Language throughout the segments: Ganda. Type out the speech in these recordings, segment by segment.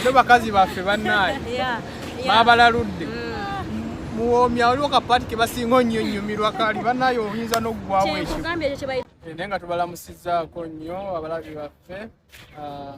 no bakazi baffe bannaye babalaludde mm. muwoomya waliwo kapaati ke basinga onnyo nnyumirwa kali bannaye oyinza n'oggwawo ekyo naye nga tubalamusizaako nnyo abalabi baffe ah,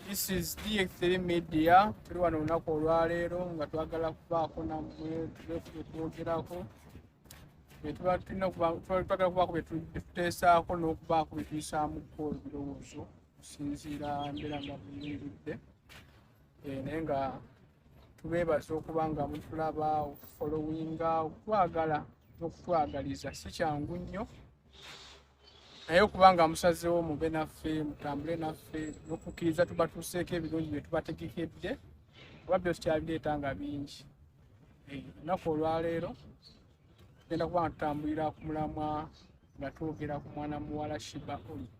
this is dx3 media tuli wano olunaku olwaleero nga twagala kubaako namwe tulefule twogerako byetuba tulina twagala kubaako byetuteesaako n'okubaako byetuyisaamuko ebirowoozo okusinziira mbeera nga buyingidde eh, naye nga tubeebaza okuba nga mutulaba okufolowinga okutwagala n'okutwagaliza si kyangu nnyo naye okuba nga musazeewo mube naffe mutambule naffe n'okukkiriza tubatuuseeko ebirungi bye tubategekedde kuba byo tukyabireeta nga bingi eh, ennaku olwaleero tugenda kuba nga tutambulira ku mulamwa nga twogera ku mwana muwala shiba olik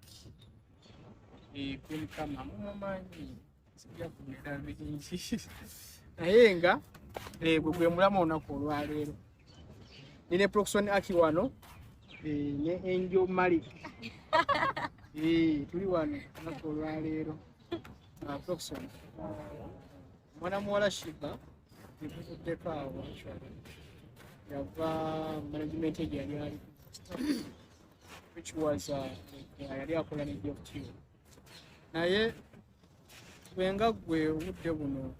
kulikama eh, mumumanyi sijakumera bingi naye nga eh, gwe gwe mulamwa olunaku olwaleero nine proxon aki wano eh, ne enjo malik tuli wano olunaku olwaleero ah, proxon mwana muwala shiba ebuvuddeko awo yava management egyo yali ali which was uh, yali akola ne joftu naye wenga gwe obudde buno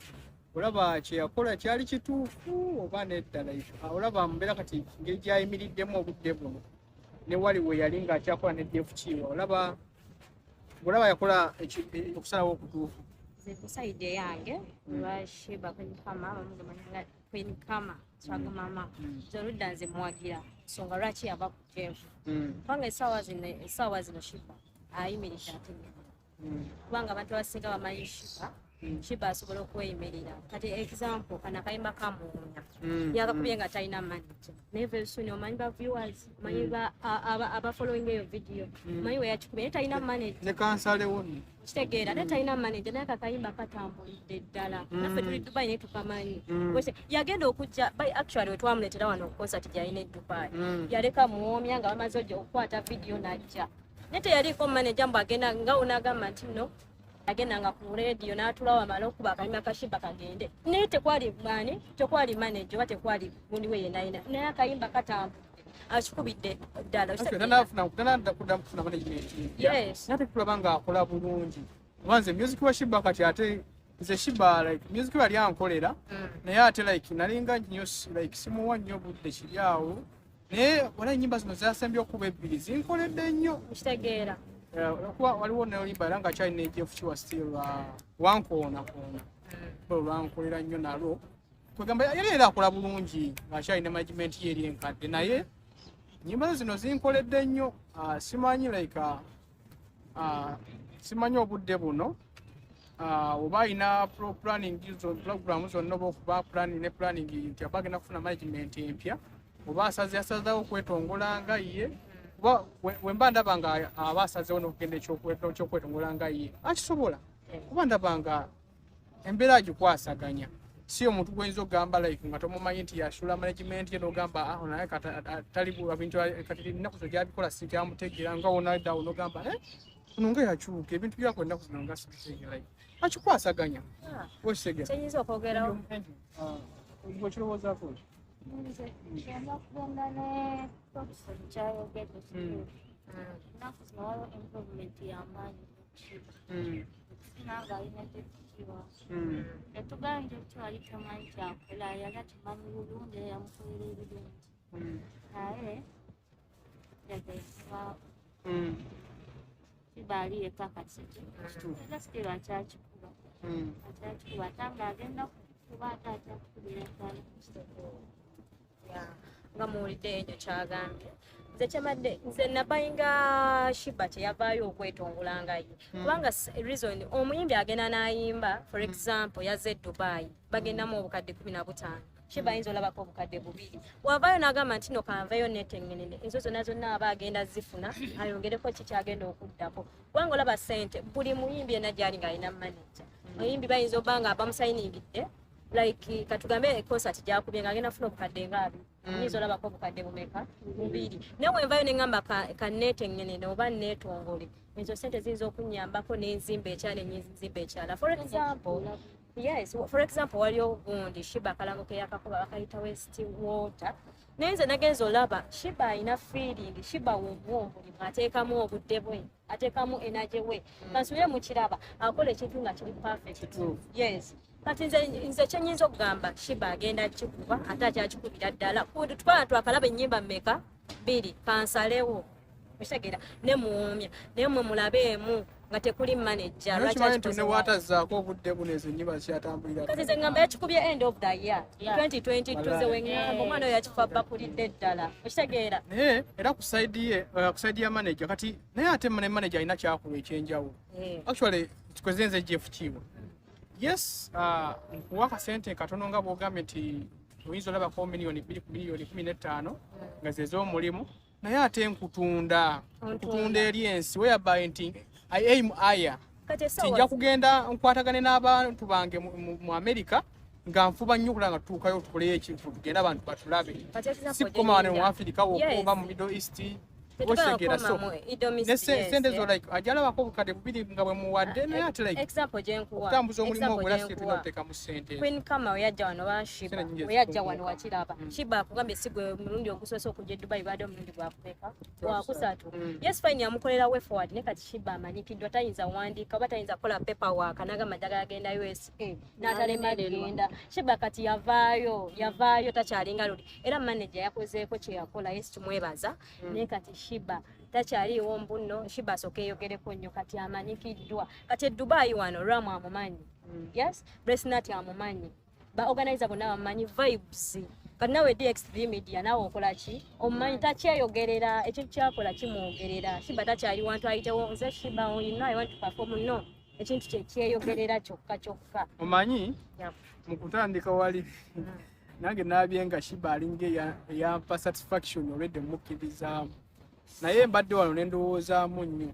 olaba kyeyakola kyali kituufu oba neddala ah, olaba mbeera kati ngeri gyayimiriddemu obudde buno newali we yali ngaakyakola ne joftu olaba olaba yakola okusalawo okutuufu kusaidi eyange lwashiba kwenye kama bamugumanyanga kwenye kama kyago mama zorudda nze muwagira nsonga lwaki yava ku jeevu kubanga esaawa zino esaawa zino shiba ayimirira ategeka kubanga abantu abasinga bamanyi shiba shiba asobola okweyimirira kati example kana kayimba kamuwunya mm, yakakubye mm. nga talina manager naye very soon omanyi ba viewers omanyi mm. aba following eyo video omanyi weyakikubye naye talina manager ne kansale wona kitegeera ate talina manager naye kakayimba katambulidde ddala naffe tuli dubai naye tukamanyi yagenda okujja by actually wetwamuletera wano concert gyalina e dubai yaleka muwomya nga bamaze okukwata video najja naye teyaliiko manager mbu agenda nga onagamba nti no agendanga ku rediyo n'atula wamala okuba akanyuma kashimba kagende naye tekwali mwani tekwali manaje oba tekwali gundi we yenayina naye akayimba katamba akikubidde ddalakulabanga akola bulungi obanze music wa shiba kati ate nze shiba like music yali ankolera mm. naye ate like nalinga nyo like simuwa nnyo budde kiri awo naye wala enyimba zino zasembye okuba ebbiri zinkoledde nnyo nkitegeera eh, olwokuba waliwo nolimba era nga kyalina ejefukiwa still uh, wankoonakoona hmm. olwankolera nnyo nalwo kwegamba yali era akola bulungi ngaakyalina management ye eri enkadde naye nyimba zino zinkoledde nnyo uh, simanyi like uh, Ah, simanyi obudde buno ah, oba alina planning program zonna oba okuba planning ne planning nti aba agenda kufuna management empya oba asaze asazawo okwetongola nga ye kuba wemba ndaba nga aba asazewo nokugenda ekyokwetongola nga ye akisobola kuba ndaba nga embeera agikwasaganya si omuntu gwoyinza okugamba like nga tomumanyi nti yasula management ye nogamba ah, aho naye katalibintu kati ennaku zo gyabikola sikyamutegeera nga wonadawo nogamba eh, kuno nga yakyuka ebintu byako ennaku zino nga sibitegeera akikwasaganya ah, okitegeraoyinza okwogerawo okirowoozaako ah, sinanga alina tekikiwa yatugambye nti wali tomanyi kyakola yali akimanyi bulungi era yamukolera ebirungi naye yagaisibao kibaali yeka kasiki era sitiro akyakikuba akyakikuba ate nga agenda kukuba ate akyakikubira ddala nga muwulidde enyo kyagambye nze kyemadde nze nabayinga shiba kyeyavaayo okwetongola nga ye hmm. kubanga reason omuyimbi agenda n'ayimba for hmm. example yaze e dubai bagendamu obukadde kumi na butaano shiba ayinza olabako obukadde bubiri wavaayo n'agamba nti no kanveyo netengenene ezo zonna zonna aba agenda zifuna ayongereko kikyagenda okuddako kubanga olaba sente buli muyimbi ena gyali ng'alina manaja hmm. muyimbi bayinza obba nga bamusayiningidde mm. like katugambe concert gyakubye nga agenda funa obukadde nga abi mm. nyinza olabako obukadde bumeka bubiri naye wenvayo neŋamba kaneeteŋenene oba neetongole ezo sente ziyinza okunyambako nenzimba ekyala enyinzimba ekyala for example yes for example waliyo gundi shiba akalango keyakakuba bakayita west water naye nze nagenza olaba shiba alina feeling shiba womwomulimu ateekamu obudde bwe atekamu energy we mm. kansubire mu kiraba akola ekintu nga kiri perfect True. yes kati nze nze kyenyinza okugamba shiba agenda kikuba ate akyakikubira ddala twala twakalaba ennyimba mmeka bbiri kansalewo okitegera ne muwomya naye mwe mulabeemu nga tekuli manager lwaki tunewaatazaako obudde buno ezo nnyimba kyatambulira kati nze ngamba yakikubye end of the year 2022 weŋŋamba omwana oyo yakifa bakulidde ddala okitegeera naye era ku saidi ye uh, ku saidi ya manager kati naye ate ne manager alina kyakulwa ekyenjawulo eh. actually kikoze nze jeff kiiwa yes uh, nkuwa akasente katono nga bwogambye nti oyinza olabako miliyoni bbiri ku miliyoni kumi n'ettaano nga zezomulimu mm. naye ate nkutunda nkutunda eri ensi whereby nti i aim aya tijja kugenda nkwatagane n'abantu bange mu america nga nfuba nnyo okulaba nga tutuukayo tukoleyo ekintu tugende abantu batulabe si kukoma wano mu afirika wokuba mu middle east okitegera so nesente zo like ajalabako obukadde bubiri nga bwemuwadde naye ate like okutambuza omulimu ogwera situlina otekamu Queen Kama oyajja wano bashiba oyajja wano wakiraba mm. shiba akugambye sigwe mulundi ogusose okujja Dubai bado mulundi gwakupeka wakusatu mm. yes fine yamukolera way forward ne kati shiba amanyi kidwa tayinza wandika oba tayinza kola paper work anaga madaga yagenda USA eh, natale magenda shiba kati yavayo yavayo takyalinga luli era manager yakozeeko kye yakola yes tumwebaza mm. ne kati shiba takyaliwo mbunno shiba sokeyogereko nnyo kati amanyikiddwa kati e Dubai wano ramu amumanyi mm. yes Grace Nati amumanyi ba organizer bona bamanyi vibes kati nawe DXTV media nawe okola ki omumanyi mm. takyeyogerera ekyo kyakola kimwogerera shiba takyali wantu ayitewo nze shiba you know I want to perform no ekintu kyekyeyogerera kyokka kyokka omanyi mu kutandika wali mm. nange nabye nga shiba alinga eyampa satisfaction olwedde mukkirizaamu naye mbadde wano nendowoozaamu nnyo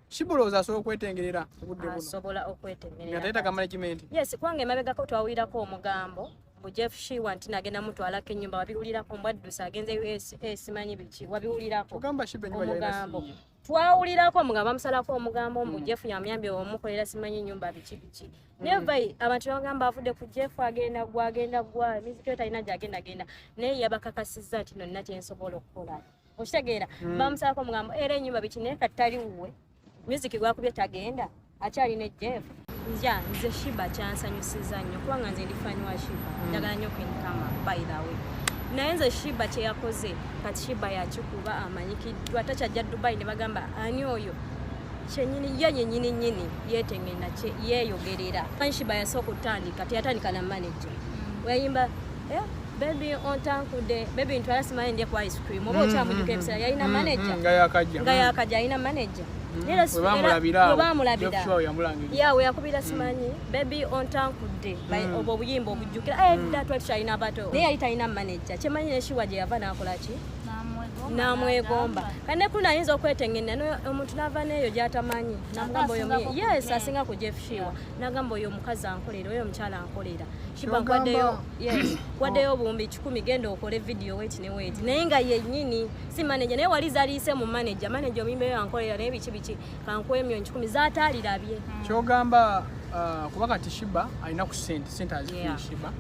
Kibulooza asobola okwetengerera obudde buno. Asobola okwetengerera. Nga tayita ka management. Yes, kwange emabegako twawulirako omugambo mbu Jeff Shiwa nti nagenda mutwalako ennyumba wabiwulirako mbwaddusa agenze USA simanyi biki wabiwulirako omugambo twawulirako omugambo bamusalako omugambo mbu hmm. Jeff yamuyambye omukolera simanyi ennyumba biki biki hmm. neva abantu bagamba avudde ku Jeff agenda gwa agenda gwa emizikyo talina gyagenda genda naye yabakakasizza nti nonna kyensobola okukola okitegeera hmm. bamusabako mugambo era enyumba biki naye kati tali wuwe music gwakubye tagenda akyalina ejjeef nja nze shiba kyansanyusiza nnyo kubanga nze ndifanyi wa shiba hmm. njagala nnyo kwenkama by the way naye nze shiba kyeyakoze kati shiba yakikuba amanyikiddwa takyajja dubai ne bagamba ani oyo kyenyini ye nyenyini nyini yetengenda yeyogerera manyi shiba yasooka okutandika teyatandika na manager hmm. weyayimba Eh, bebi ontankude bebi ntwala simanyi ndye ku ice cream oba okyamujuka ebisera yalina manaja nga yakajja alina manaja yawe yakubira simanyi bebi ontankudde mm. obwo obuyimba obujjukira eh, mm. dda twali tukyalina abato naye yali talina manaja kyemanyi neshiwa gye yava nakolaki namwegomba kati nekulu nayinza okwetengenera omuntu nava neeyo gyatamanyi namugamba oyo yes asinga ku jeff shiwa nagamba oyo omukazi ankolera oyo omukyala ankolera shibawaddeyo obuwumbi kikumi genda okole vidiyo weti ne weti naye nga yenyini si maneja naye wali zaliise mu maneja maneja omuyimbeyo ankolera naye biki biki kankuwa emyoni kikumi zataalirabye hmm. kyogamba uh, kuba kati shiba alina ku sente sente azifuna shiba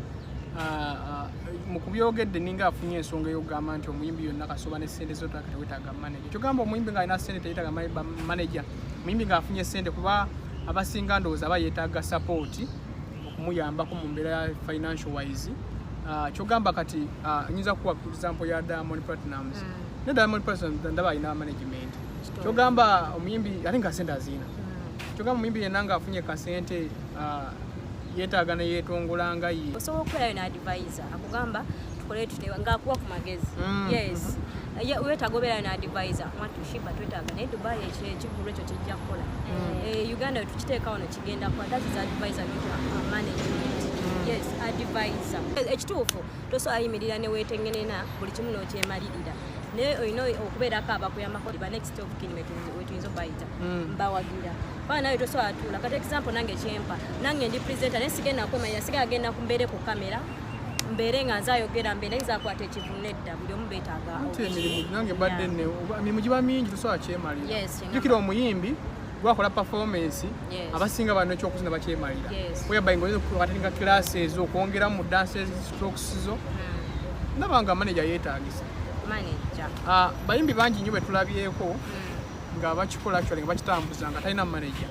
uh, uh, mukubyogedde ninga afunye ensonga eyokugamba nti omuyimbi yonna kasoba ne sente zotaka tewetaga maneja kyogamba omuyimbi nga alina sente teyetaga maneja muyimbi ng'afunye ssente kuba abasinga ndowooza aba yeetaaga sapooti okumuyambako mu mbeera ya financial wise ah, kyogamba kati ah, nyinza kuwa example ya diamond platinums mm. ne diamond platinums ndaba alina management kyogamba omuyimbi ate nga sente aziina mm. kyogamba omuyimbi yenna nga afunye kasente ah, yeetaaga neyeetongola nga ye osobola okukola yo naadvisa akugamba tukole tutewa ngaakuwa ku magezi mm. yes mm -hmm. wetaaga obeerayo na advisor mwattu shiba twetaaga naye dubai ekyo ekivulu ekyo kijja kukola mm. eh, uganda wetukiteeka wano kigenda kuba that is advisor not uh, management mm. yes advisor eh, ekituufu tosobola ayimirira newetengenena buli kimu nokyemalirira naye olina okubeerako abakuyambako ba next of kin wetuyinza obayita mm. mbawagira baa nawe tosobola tuula kati example nange kyempa nange ndi presenter naye sigenda kwemalira sigala genda kumbeere ku kamera mbeere nga nze ayogera mbeere nze akwata ekivunno edda buli omu beetaaga emirimu nange mbadde ne emirimu giba mingi tusobola kyemalira jukira omuyimbi gwakola performance abasinga bano ekyokuzina bakyemalira whereby nga oyinza okuatinga classes okwongeramu mu dances strokes zo hmm. ndaba nga manager yeetagisa ah, bayimbi bangi nnyo betulabyeko hmm. nga bakikola actually nga bakitambuza nga talina manager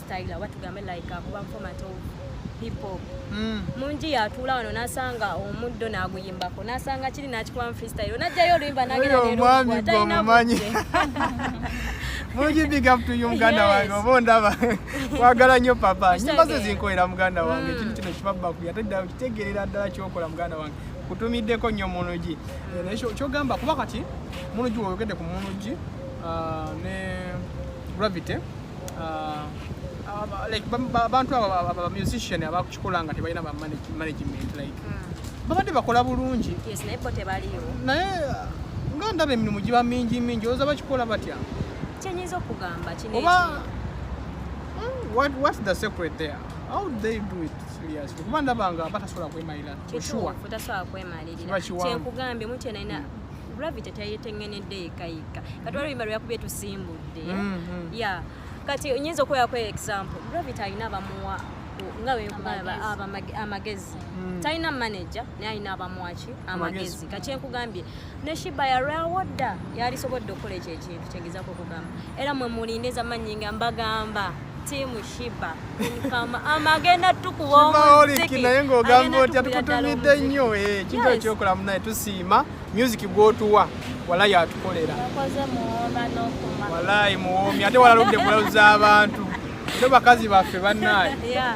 style oba tugambe like akuba format of hip hop mm. mungi yatuula wano nasanga omuddo naguyimbako nasanga kiri nakikubamu freestyle najjayo oluyimba nageraomwamigwomumanyi mungi big up to you muganda wange oba ondaba kwagala nnyo papa nyimba ze zinkolera muganda wange mm. ekintu kino kibabakuy ate ddala kitegerera ddala kyokola muganda wange kutumiddeko nnyo munugi eh, naye kyogamba kuba kati munugi woyogedde ku munugi ah, ne gravity ah, abantu abo bamusician abakukikola nga tebalina bamanagement like hmm. babadde bakola bulungi naye nga ndaba emirimu giba mingi mingi oza bakikola batya kyenyinza okugamba oba hmm, what, what's the secret there how do they do it serious kuba ndabanga batasobola kwemalira kyenkugambye mutyonalina gravity tayetengenedde yekka yekka kati waliwo bimba lweyakubye tusimbudde mm-hmm. ya kati nyinza okuwerako example gravity alina abamuwa nga wekugamba amagezi mm. talina manaja naye alina abamwaki amagezi kati enkugambye ne shiba yalwawo dda yalisobodde okukola ekyo ekintu kyegezako okugamba era mwe mulinde zamanyinga mbagamba Team Shiba. Kama ama agenda tukuwa omuziki. Naye ng'ogamba otya tukutumidde nnyo eh kintu ekyokola munaye tusiima music gw'otuwa walayi atukolera. Wakoze muwoma n'okuma. Walayi muwomi ate walaludde kulauza abantu. Ate bakazi baffe bannaye. Yeah.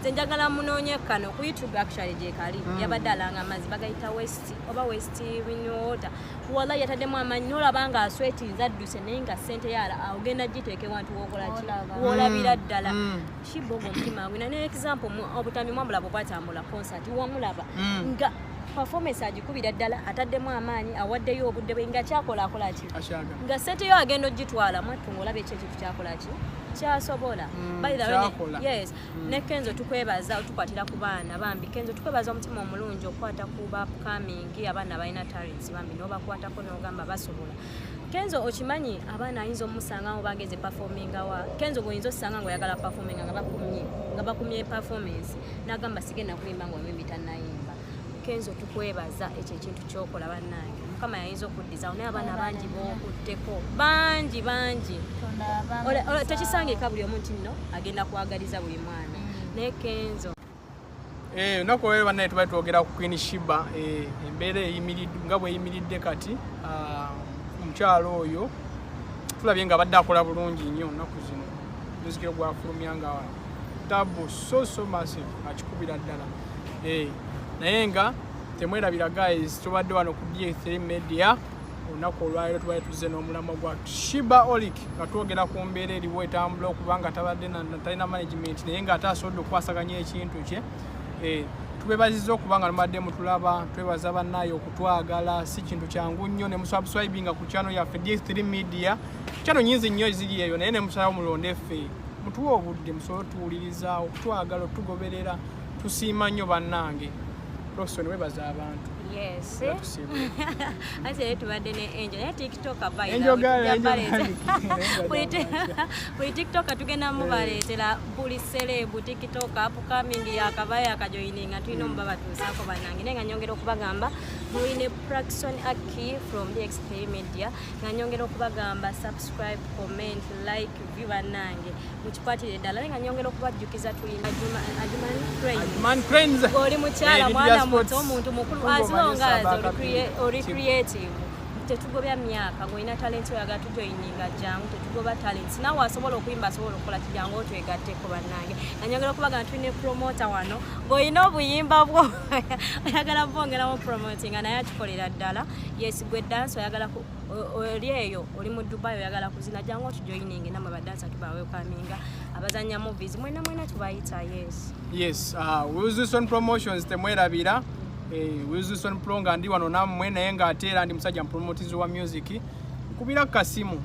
nze njagala munoonye kano ku youtube actually gyekali mm. yabadde alanga amazzi bagayita west oba west winwater wala yataddemu amanyi nolaba nga aswetinza adduse naye nga sente yala ogenda giteeka ewantu wokolaki wolabira mm. ddala mm. shiboga omutima gwe nane example obutambi mwamulaba obwatambula concert wamulaba mm. nga performance agikubira ddala ataddemu amaanyi awaddeyo obudde bwe nga kyakolakolaki nga sente yo agenda ogitwala mwattu ngaolaba ekyekyo kyakola ki kyasobola mm, yes mm. ne kenzo tukwebaza otukwatira ku baana bambi kenzo tukwebaza omutima omulungi okwata ku ba upcoming abaana balina talents bambi nobakwatako nogamba basobola kenzo okimanyi abaana ayinza omusanga ngo bageze performinga wa kenzo goyinza osanga ngo yagala performinga nga bakumye nga bakumye performance nagamba sigenda kuyimba ngo mimi tanayimba kenzo tukwebaza ekyo ekintu kyokola bannange mukama yayinza okuddizawo naye abaana bangi bokutteko bangi bangi tekisangika buli omu nti nno agenda kwagaliza buli mwana mm. naye kenzo eh, olunaku olwero bannaye tubali twogera ku queen shiba eh, embeera eyimiridde nga bweyimiridde kati ah, omukyalo oyo tulabye nga abadde akola bulungi nnyo onaku zino muzikiro gwafulumya nga tabu so so massive akikubira ddala hey. naye nga temwerabira guys tubadde wano ku d3 media olunaku olwaliro tubadde tuzze n'omulamwa gwa shiba olic nga twogera ku mbeera eriwo etambula okuba nga tabadde talina management naye nga ate asobodde okukwasaganya ekintu kye eh, tubebaziza okuba nga lumadde mutulaba twebaza bannaye okutwagala si kintu kyangu nnyo ne musabswibinga ku kyano yaffe d3 media kyano nyinzi nnyo eziri eyo naye ne musalawo mulonde ffe mutuwa obudde musobole otuwuliriza okutwagala otugoberera tusiima nnyo bannange roson webaza abantu ate naye tubadde ne angel naye tiktoka buli tiktoka tugenda mubaleetera buli serebu tiktoka upcoming yakaba yakajoininga tulina omuba batuusaako banange naye nga nyongera okubagamba mulina praxon aki from the xp media nga nyongera okubagamba subscribe comment like view banange mukikwatire eddala naye nga nyongera okubajjukiza tulina Ajuman Cranes oli mukyala eh, mwana muto omuntu mukulu as long as oli creative tetugobya myaka ng'olina talenti oyagala tujoyininga jangu tetugoba talenti nawe asobola okuyimba asobola okukola kijangu otwegatteko bannange nanyongera okubaga nti ne promota wano ng'olina obuyimba bwo oyagala bwongeramu promotinga naye akikolera ddala yesigwe dansi oyagala oli eyo oli mu dubai oyagala kuzina jangu otujoininge namwe badansa tubawekaminga abazanya movies mwena mwena tubayita yes yes uh, wilson promotions temwerabira eh, wilson pro nga ndi wano namwe naye nga ate era ndi musajja mupromotizi wa music nkubira kasimu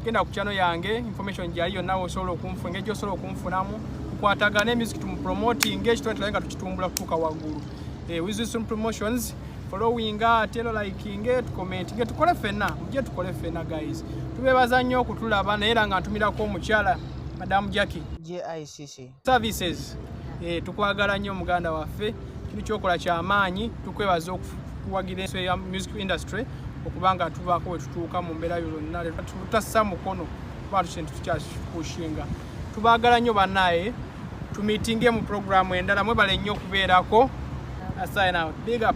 genda ku chano yange information gyali yonna osobola okunfu engeri gyosobola okunfunamu kukwatagana emusic tumupromotinga ekitone tulaye nga tukitumbula kutuuka waggulu eh, wilson promotions followinga ate lo likinge tukomentinge tukole fena mujje tukole fena guys tubebaza nnyo okutulaba naye era nga ntumirako omukyala madamu jacki jicc services eh, tukwagala nnyo muganda waffe kino kyokola kyamaanyi tukwebaza okuwagira ensi ya music industry okubanga tubaako wetutuuka mu mbeera yo lonna tutassa mukono kuba tukintu tukyakipushinga tubagala nyo banaye tumitinge mu programu endala mwebale nnyo okubeerako sign out big up